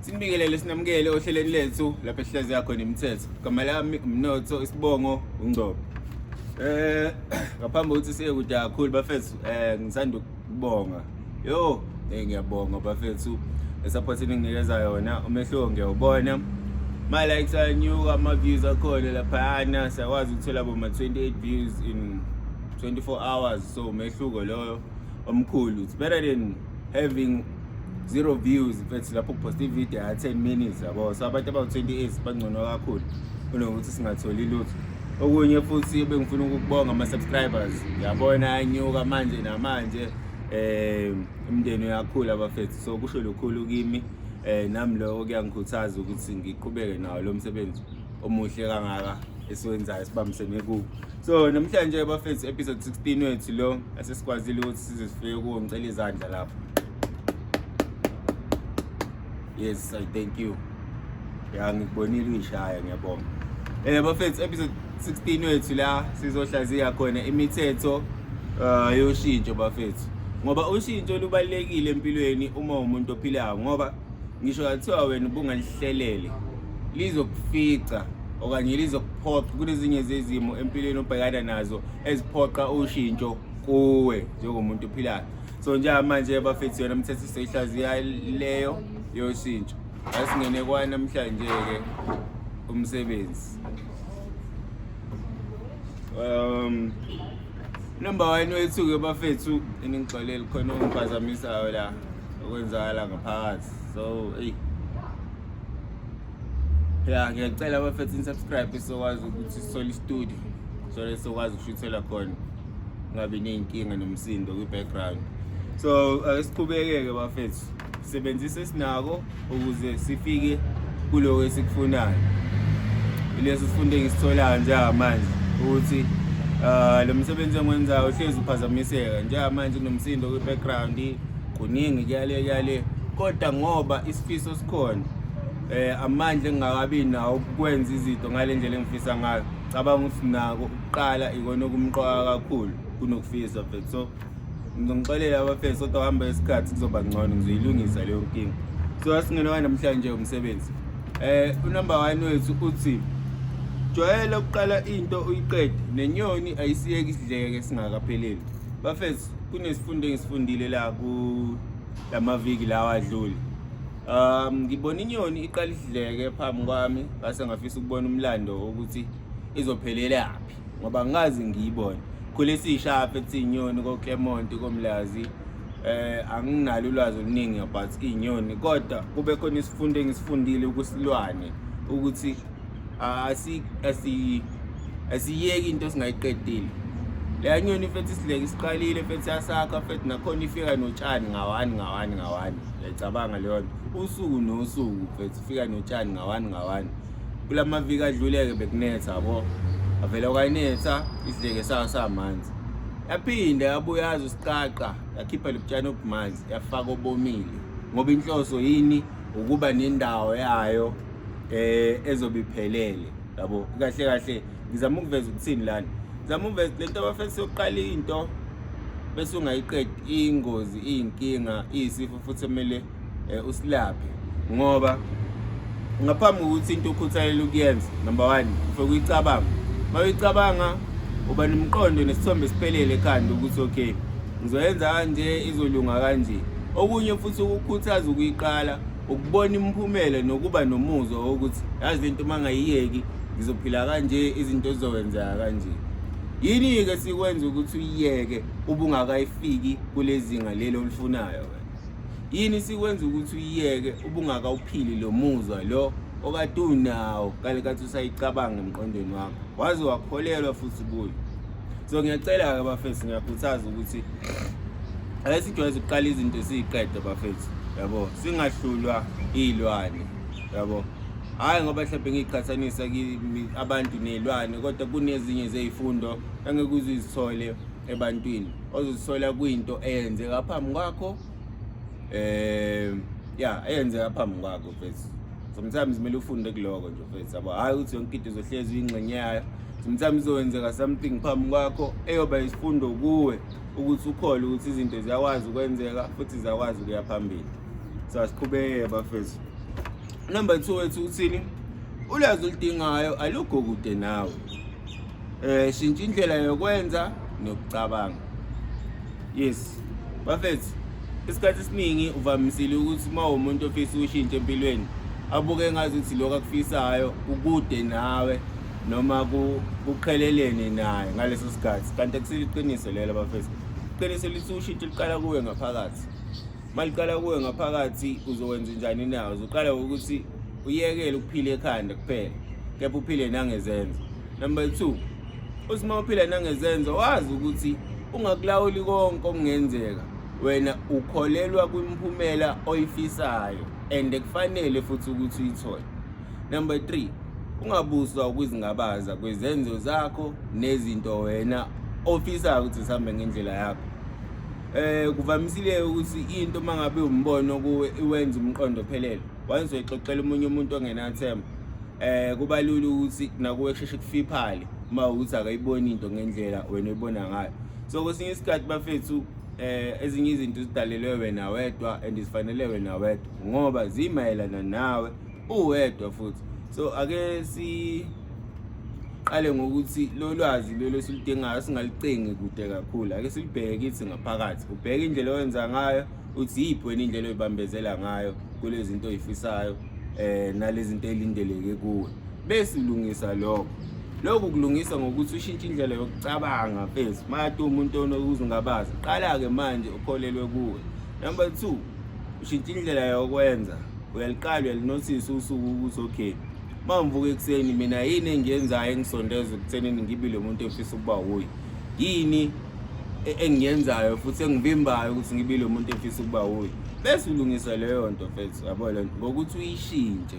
Sinibingelele sinamukele ohlelweni lethu lapho ehlezi yakho nemithetho. Igama lami umnotho isibongo ungcobo. Eh ngaphambi kokuthi siye kude kakhulu bafethu eh ngisanda ukubonga. Yo eh, ngiyabonga bafethu support eninginikeza yona umehluko ngiyawubona. My likes are new, ama views akhona laphayana siyakwazi ukuthola boma 28 views in 24 hours so umehluko loyo omkhulu it's better than having zero views mfethu lapho kuposta ivideo ya 10 minutes yabo so abantu abawu-28 bangcono kakhulu kunokuthi singatholi lutho okunye futhi bengifuna ukukubonga ama-subscribers yabona anyuka manje namanje um imndeni uyakhula abafethu so kusho lukhulu kimi um nami lokho kuyangikhuthaza ukuthi ngiqhubeke nawo lo msebenzi omuhle kangaka esiwenzayo sibambisene kuwo so namhlanje bafethu episode 16 wethu lo asesikwazile ukuthi size sifike kuwo ngicela izandla lapho yes i thank you ya ngikubonile uyishaya ngiyabonga eh bafethu episode 16 wethu la sizohlaziya khona imithetho uh, yoshintsho bafethu ngoba ushintsho lubalekile empilweni uma umuntu ophilayo ngoba ngisho kathiwa wena ubungalihlelele lizokufica okanye lizokuphoqa kunezinye zezimo empilweni obhekana nazo eziphoqa ushintsho kuwe njengomuntu ophilayo so njengamanje bafethu yona mthetho siyihlaziya leyo yoshintsho asingene kwanamhlanje-ke umsebenzi um Number one wethu-ke bafethu eningixoleli khona okungiphazamisayo la okwenzakala ngaphakathi so eyi ya ngiyacela bafethu nisubscribe sokwazi ukuthi sisole istudio sole sokwazi ukushuthela khona kungabi ney'nkinga nomsindo kwi-background so asiqhubeke-ke bafethu Sebenzisa esinako ukuze sifike kuloko esikufunayo. Ileso sifundo engisitholayo njengamanje ukuthi uh, lo msebenzi engiwenzayo uhlezi uphazamiseka njengamanje kunomsindo kwi-background kuningi kuyale kuyale kodwa ngoba isifiso sikhona eh amandla engingakabi nawo ukwenza izinto ngale ndlela engifisa ngayo cabanga ukuthi nako ukuqala ikona okumqoka kakhulu kunokufisa mfethu so ngizonixolela abafesi kodwa hamba isikhathi kuzoba ngcono ngizoyilungisa leyo nkinga so asingenwa namhlanje umsebenzi eh unumber 1 wethu uthi jwayela ukuqala into uyiqede nenyoni ayisiyeki isidleke singakapheleli bafesi kunesifundo engisifundile la ku lamaviki lawa adlule um ngibona inyoni iqala isidleke phambi kwami ngase ngafisa ukubona umlando ukuthi izophelelaphi ngoba ngazi ngiyibone khule siyishapha ethi inyoni koClermont komlazi eh anginalo ulwazi oluningi about inyoni kodwa kube khona isifundo engisifundile ukusilwane ukuthi asi asi asiyeki into singayiqedile leya nyoni fethi isileke isiqalile fethi yasakha fethi nakhona ifika notshani ngawani ngawani ngawani yacabanga leyo nto usuku nosuku fethi fika notshani ngawani ngawani kula maviki adluleke bekunetha yabo avele kwayinetha isidleke sayo samanzi yaphinde yabuya yazi usiqaqa yakhipha lobutshani obumanzi yafaka obomile ngoba inhloso yini ukuba nendawo yayo eh ezobiphelele yabo kahle kahle ngizama ukuveza ukuthini lana ngizama ukuveza lento abafethu sokuqala into bese ungayiqedi ingozi iyinkinga iyisifo futhi emele eh, usilaphe ngoba ngaphambi kokuthi into ukhuthalele ukuyenza number one ufike uyicabanga uma uyicabanga uba nomqondo nesithombe siphelele ekhanda ukuthi okay ngizoyenza kanje izolunga kanje okunye futhi ukukhuthaza ukuyiqala ukubona imiphumela nokuba nomuzwa wokuthi yazi lento uma ngayiyeki ngizophila kanje izinto zizokwenzeka kanje yini-ke sikwenza ukuthi uyiyeke ubungakayifiki kulezinga leli olifunayo yini sikwenza ukuthi uyiyeke ubungaka uphili lo muzwa lo okade unawo kale kathi usayicabanga emqondweni wakho waze wakholelwa futhi kuyo so ngiyacela-ke bafethu ngiyakhuthaza ukuthi ake sijwayeze ukuqala izinto siyiqede bafethu yabo singahlulwa iy'lwane yabo hhayi ngoba mhlawumbe ngiyiqhathanisa abantu ney'lwane kodwa kunezinye zey'fundo engeke uzizithole ebantwini ozozisola kwinto eyenzeka phambi kwakho eh ya eyenzeka phambi kwakho mfethu sometimes kumele ufunde kuloko nje mfethu yabo hayi ukuthi yonke into izohlezi uyingxenye yayo sometimes izokwenzeka something phambi kwakho eyoba isifundo kuwe ukuthi ukhole ukuthi izinto ziyakwazi ukwenzeka futhi ziyakwazi ukuya phambili so asiqhubeke bafethu number two wethu uthini ulwazi oludingayo alukho kude nawe eh shintsha indlela yokwenza nokucabanga yes bafethu isikhathi esiningi uvamisile ukuthi uma umuntu ofisa ukushintsha empilweni abuke ngazi ukuthi lokho akufisayo ukude nawe noma kuqhelelene naye ngaleso sikhathi kanti akusile iqiniso lelo bafethu iqiniso lithi ushintsho liqala kuwe ngaphakathi maliqala kuwe ngaphakathi uzokwenza njani na uzoqala ukuthi uyekele ukuphila ekhanda kuphela kepha uphile nangezenzo number 2 usima uphila nangezenzo wazi ukuthi ungakulawuli konke okungenzeka wena ukholelwa kwimphumela oyifisayo and kufanele futhi ukuthi uyithole number 3 ungabuswa ukuzingabaza kwezenzo zakho nezinto wena ofisayo ukuthi sihambe ngendlela yakho eh kuvamisile ukuthi into mangabe umbono kuwe iwenza umqondo phelele wayezoyixoxela umunye umuntu ongenathemba eh kuba lula ukuthi nakuwe kusheshe kufiphale uma ukuthi akayiboni into ngendlela wena oyibona ngayo so kwesinye isikhathi bafethu eh ezinye izinto zidalelwe wena wedwa and zifanele wena wedwa ngoba zimayelana nawe uwedwa futhi so ake si qale ngokuthi lo lwazi lelo siludingayo singalucingi kude kakhulu ake silibheke kithi ngaphakathi ubheke indlela owenza ngayo uthi yiphi wena indlela oyibambezela ngayo kule zinto oyifisayo um nale zinto elindeleke kuwe bese ulungisa lokho lokhu kulungisa ngokuthi ushintshe indlela yokucabanga mfethu mati umuntu onokuzungabaza qala-ke manje ukholelwe kuwe number two ushintshe indlela yokwenza uyaliqala uyalinothisa usuku ukuthi okay uma ngivuka ekuseni mina yini engiyenzayo engisondeza ekuthenini ngibi lo muntu efisa ukuba wuye yini e-, engiyenzayo futhi engivimbayo ukuthi ngibe lo muntu efisa ukuba wuye bese ulungisa leyo nto mfethu yabo le nto ngokuthi uyishintshe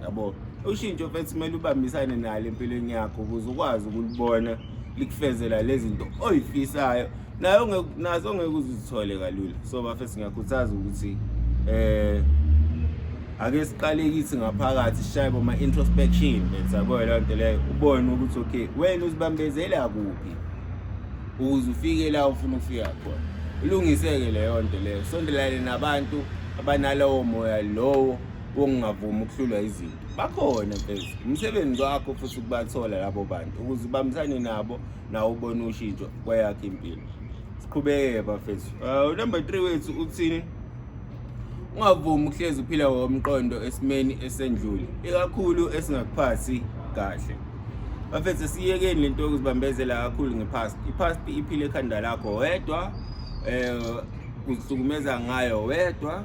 yabo ushintsho mfethu kumele ubambisane nalo empilweni yakho ukuze ukwazi ukulibona likufezela lezi zinto oyifisayo nayo nazo ngeke uzithole kalula so bafethu ngiyakhuthaza ukuthi eh ake siqale kithi ngaphakathi sishaye boma introspection bese yabo le nto leyo ubone ukuthi okay wena uzibambezela kuphi ukuze ufike la ufuna ukufika khona ulungiseke leyo nto leyo sondelane nabantu abanalowo moya lowo wokungavumi ukuhlulwa izinto bakhona mfezi umsebenzi wakho futhi ukubathola labo bantu ukuze ubambisane nabo nawo ubone ushintsho kweyakho impilo siqhubeke bafethu uh, number three wethu uthini ungavumi ukuhlezi uphila ngokomqondo esimeni esendlule ikakhulu esingakuphathi kahle bafethu siyekeni lento yokuzibambezela kakhulu ngepast ipast iphile ekhanda lakho wedwa um uzihlukumeza ngayo wedwa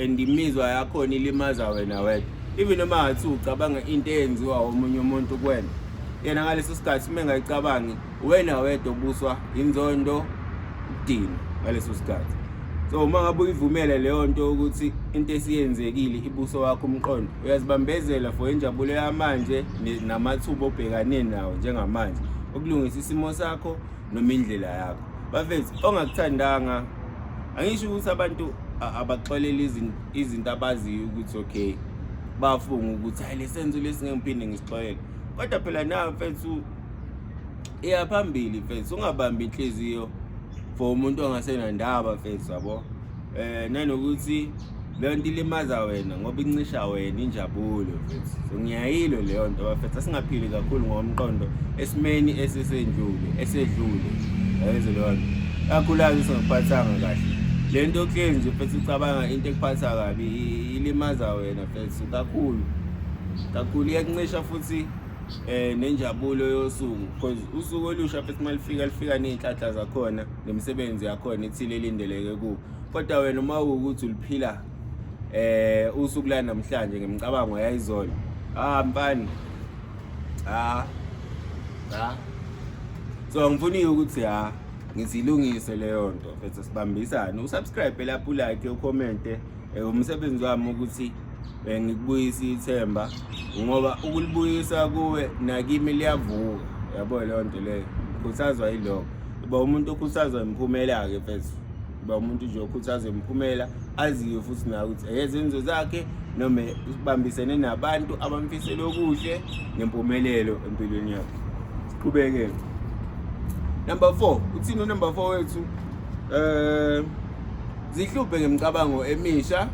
and imizwa yakhona ilimaza wena wedwa even noma ngathi ucabanga into eyenziwa omunye umuntu kuwena yena ngaleso sikhathi uma engayicabangi wena wedwa obuswa inzondo ukudinwa ngaleso sikhathi so uma ngabe uyivumele leyo nto ukuthi into esiyenzekile ibuso wakho umqondo uyazibambezela for injabulo yamanje namathuba obhekane nawo njengamanje ukulungisa isimo sakho noma indlela yakho bafethu ongakuthandanga angisho ukuthi abantu abaxolele izinto abaziyo ukuthi okay bafunga ukuthi hayi lesenzo lesi ngeke ngiphinde ngisixolele kodwa phela nawe mfethu iya phambili mfethu ungabambi inhliziyo for umuntu ongasenandaba mfethu yabo eh nanokuthi leyo nto ilimaza wena ngoba incisha wena injabulo mfethu so ngiyayilo leyo nto bafethu asingaphili kakhulu ngomqondo esimeni esisendlule esedlule yayezo leyo nto kakhulazi singakuphathanga kahle le nto kuhleli nje mfethu ucabanga into ekuphatha kabi ilimaza wena mfethu kakhulu kakhulu iyakuncisha futhi eh nenjabulo yosuku because usuku olusha futhi malifika lifika nezinhlanhla zakhona nemisebenzi yakhona ethile elindeleke ku kodwa wena uma ukuthi uliphila eh usuku la namhlanje ngemicabango yayizolo ah mfana ah ah so ngifuna ukuthi ha ngizilungise leyo nto futhi sibambisane usubscribe lapho like ucommente eh, umsebenzi wami ukuthi Eh, ngikubuyisa ithemba ngoba ukulibuyisa kuwe nakimi liyavuka yabo leyo nto leyo khuthazwa yiloko uba umuntu okhuthazwa imiphumela-ke fethu uba umuntu nje okhuthazwa imiphumela aziyo futhi nayo ukuthi eyezenzo zakhe noma ubambisene nabantu abamfisele okuhle nempumelelo empilweni yakhe siqhubeke number four uthini unumber four wethu um zihluphe ngemicabango emisha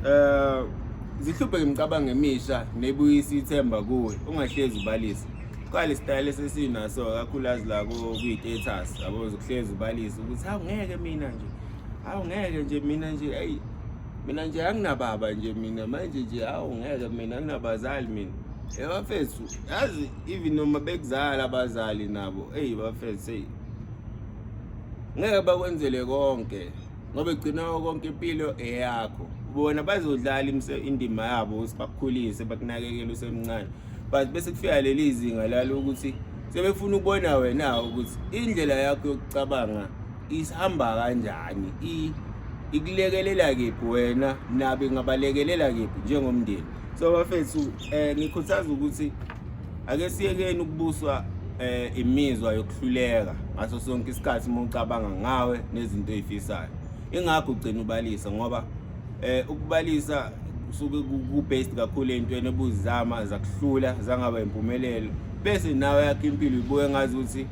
Eh zihluphe ngimcabanga emisha nebuyisa ithemba kuwe ungahlezi ubalisa. Qala isitayile sesinaso kakhulukazi la kwi-status yabo zokuhlezi ubalisa ukuthi hawu ngeke mina nje. Hawu ngeke nje mina nje hey mina nje anginababa nje mina manje nje hawu ngeke mina anginabazali mina. Eh bafethu yazi even noma bekuzala abazali nabo hey bafethu hey ngeke bakwenzele konke ngoba egcina konke impilo eyakho bona bazodlala indima yabo ukuthi bakukhulise bakunakekele usemncane but bese kufika leli zinga lalo ukuthi sebefuna ukubona wena ukuthi indlela yakho yokucabanga isihamba kanjani ikulekelela kephi wena nabe ngabalekelela kephi njengomndeni so bafethu um ngikhuthaza ukuthi ake siyekeni ukubuswa eh imizwa yokuhluleka ngaso sonke isikhathi uma ucabanga ngawe nezinto ezifisayo ingakho ugcina ubalisa ngoba eh ukubalisa kusuke ku-based kakhulu ey'ntweni ebuzizama zakuhlula zangaba impumelelo bese nawe yakho impilo ibuke ngazi ukuthi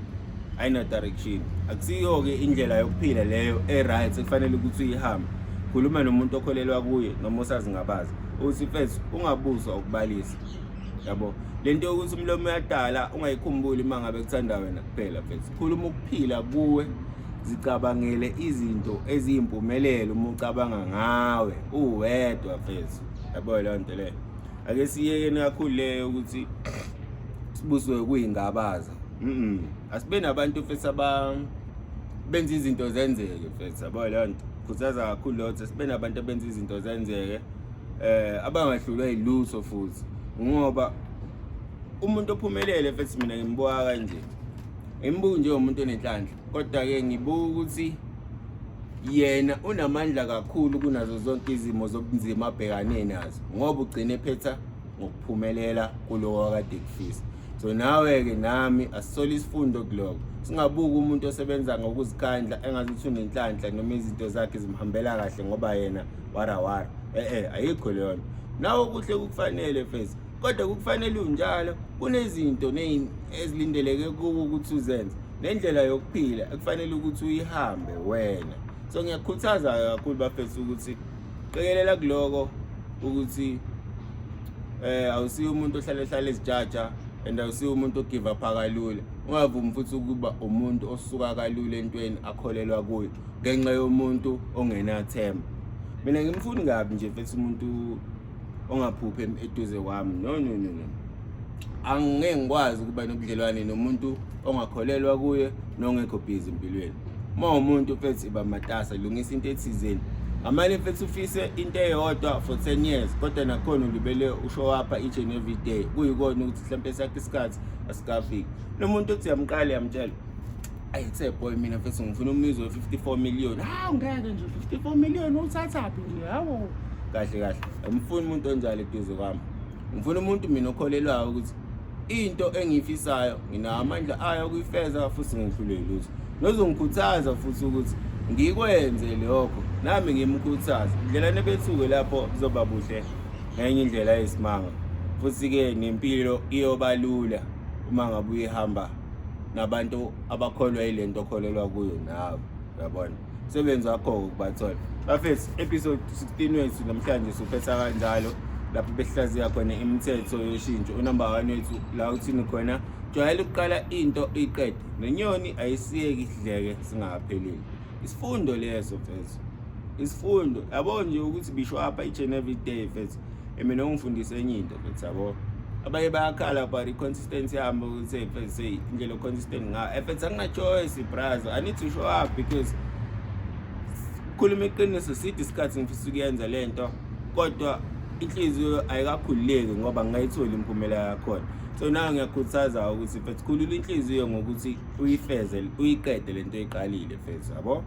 ayina-direction akusiyo-ke indlela yokuphila leyo e-right ekufanele ukuthi uyihambe khuluma nomuntu okholelwa kuye noma osazingabazi ukuthi first ungabuzwa ukubalisa yabo lento yokuthi umlomo uyadala ungayikhumbuli uma ngabe kuthanda wena kuphela mfethu khuluma ukuphila kuwe zicabangele izinto eziyimpumelelo uma ucabanga ngawe uwedwa mfethu yabo leyo nto leyo ake siyekeni kakhulu leyo ukuthi sibuswe kuyingabaza mhm asibe nabantu mfethu aba benza izinto zenzeke mfethu yabo leyo nto khuthaza kakhulu lotho sibe nabantu abenza izinto zenzeke eh abangahlulwa yiluso futhi ngoba umuntu ophumelele futhi mina ngimbuka kanje ngimbuka nje umuntu onenhlanhla kodwa ke ngibuka ukuthi yena unamandla kakhulu kunazo zonke izimo zobunzima abhekane nazo ngoba ugcine phetha ngokuphumelela kulowo akade kufisa so nawe-ke nami asisole isifundo kuloko singabuki umuntu osebenza ngokuzikhandla engathi uthi unenhlanhla noma izinto zakhe zimhambela kahle ngoba yena warawara e-e ayikho leyo nto nawo kuhle kukufanele fesi kodwa kukufanele unjalo kunezinto ezilindeleke kuwo ukuthi uzenze nendlela yokuphila ekufanele ukuthi uyihambe wena so ngiyakhuthaza kakhulu bafethu ukuthi qikelela kuloko ukuthi eh awusiyo umuntu ohlale hlale ezijaja and awusiyo umuntu ogive up kalula ungavumi futhi ukuba umuntu osuka kalula entweni akholelwa kuyo ngenxa yomuntu ongenathemba mina ngimfuni kabi nje mfethu umuntu ongaphuphi eduze kwami no no no no angeke ngikwazi ukuba nobudlelwane nomuntu ongakholelwa kuye nongekho busy empilweni uma umuntu mfethu iba matasa lungisa into ethizeni ngamane mfethu ufise into eyodwa for 10 years kodwa nakhona ulibele usho wapha each and every day kuyikona ukuthi mhlawumbe sakhe isikhathi asikafiki nomuntu othi yamqala yamtshela Ayi tse boy mina mfethu ngifuna umizwe 54 million. Hawu ngeke nje 54 million uthathaphi nje hawo. Kahle kahle. Ngifuna umuntu onjalo eduze kwami. Ngifuna umuntu mina okholelwayo ukuthi into engiyifisayo nginawo amandla ayo kuyifeza futhi ngihlule lutho. Nozongikhuthaza futhi ukuthi ngikwenze lokho nami ngimkhuthaza. Indlela nebethuke lapho kuzoba buhle ngenye indlela yesimanga. Futhi ke nempilo iyobalula uma ngabe uyihamba nabantu abakholwa yile nto okholelwa kuyo nawe yabona sebenzi wakho-ke kubathola bafethu episode 16 wethu namhlanje suphetha kanjalo lapho behlaziya khona imithetho yoshintsho unumber one wethu la uthini khona jwayela ukuqala into iqede nenyoni ayisiyeki idleke singakaphelile isifundo leso fethu isifundo yabo nje ukuthi bisho apha each and every day fethu Eh, mina ungifundise enye into futhi yabo abanye bayakhala about i-consistency yami ukuthi fs indlela o-consistent ngayo eh, fs angina-choice brazo i need to show up because khuluma iqiniso side isikhathi ngifisa ukuyenza le nto kodwa inhliziyo ayikakhululeki ngoba ngingayitholi imiphumela yakhona so nayo ngiyakhuthaza ukuthi fethu khulula inhliziyo ngokuthi uyifeze uyiqede le nto eyiqalile fethu yabo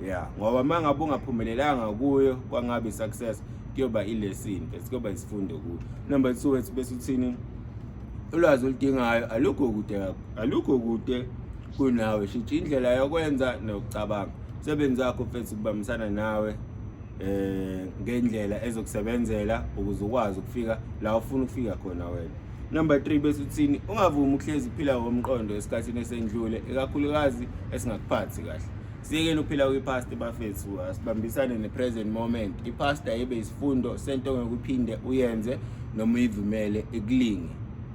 yeah ngoba mangabe ungaphumelelanga kuyo kwangabe success kuyoba ilesson bese kuyoba isifundo kuyo number 2 wethu bese uthini ulwazi oludingayo alukho kude alukho kude kunawe shitsha indlela yokwenza nokucabanga umsebenzi wakho mfethu kubambisana nawe eh ngendlela ezokusebenzela ukuze ukwazi ukufika la ufuna ukufika khona wena Number 3 bese uthini ungavumi ukuhlezi uphila ngomqondo esikhathini esendlule ekakhulukazi esingakuphathi kahle. Siyekeni uphila kwi-past bafethu asibambisane ne-present moment. I-past ayibe isifundo sento ngokuphinde uyenze noma uyivumele ikulinge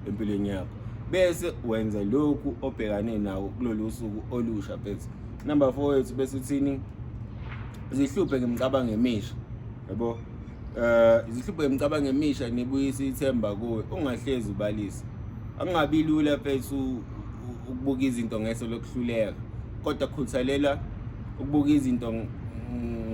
empilweni yakho. Bese wenza lokhu obhekane nawo kulolu suku olusha bese. Number 4 wethu bese uthini zihluphe ngemicabango emisha. Yabo? Eh izihlupho emcabanga emisha nibuyisa ithemba kuwe ungahlezi ubalisa. Angabi lula mfethu ukubuka izinto ngeso lokuhluleka kodwa khuthalela ukubuka izinto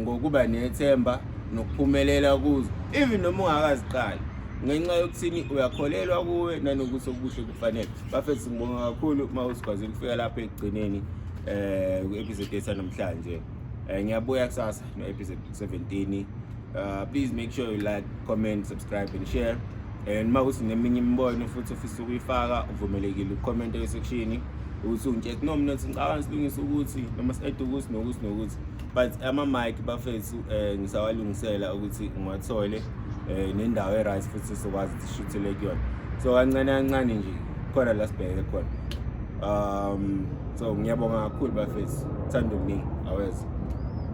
ngokuba nethemba nokuphumelela kuzo even noma ungakaziqali ngenxa yokuthini uyakholelwa kuwe nanokuthi okubuhle kufanele bafethu ngibonga kakhulu uma usikwazile ukufika lapha ekugcineni um eh, ku-episode yetha namhlanje um ngiyabuya kusasa no episode 17 uh, please make sure you like comment subscribe and share and uma kuthi neminye imibono futhi ofisa ukuyifaka uvumelekile ucomment esekshini ukuthi ungitshek no mina ngicabanga silungisa ukuthi noma si-ede ukuthi nokuthi nokuthi but ama-mike bafethu um ngisawalungisela ukuthi ngiwathole um nendawo e-right futhi sizokwazi ukuthi sishuthele kuyona so kancane kancane nje khona la sibheke khona um so ngiyabonga kakhulu bafethu thanda okuningi aweza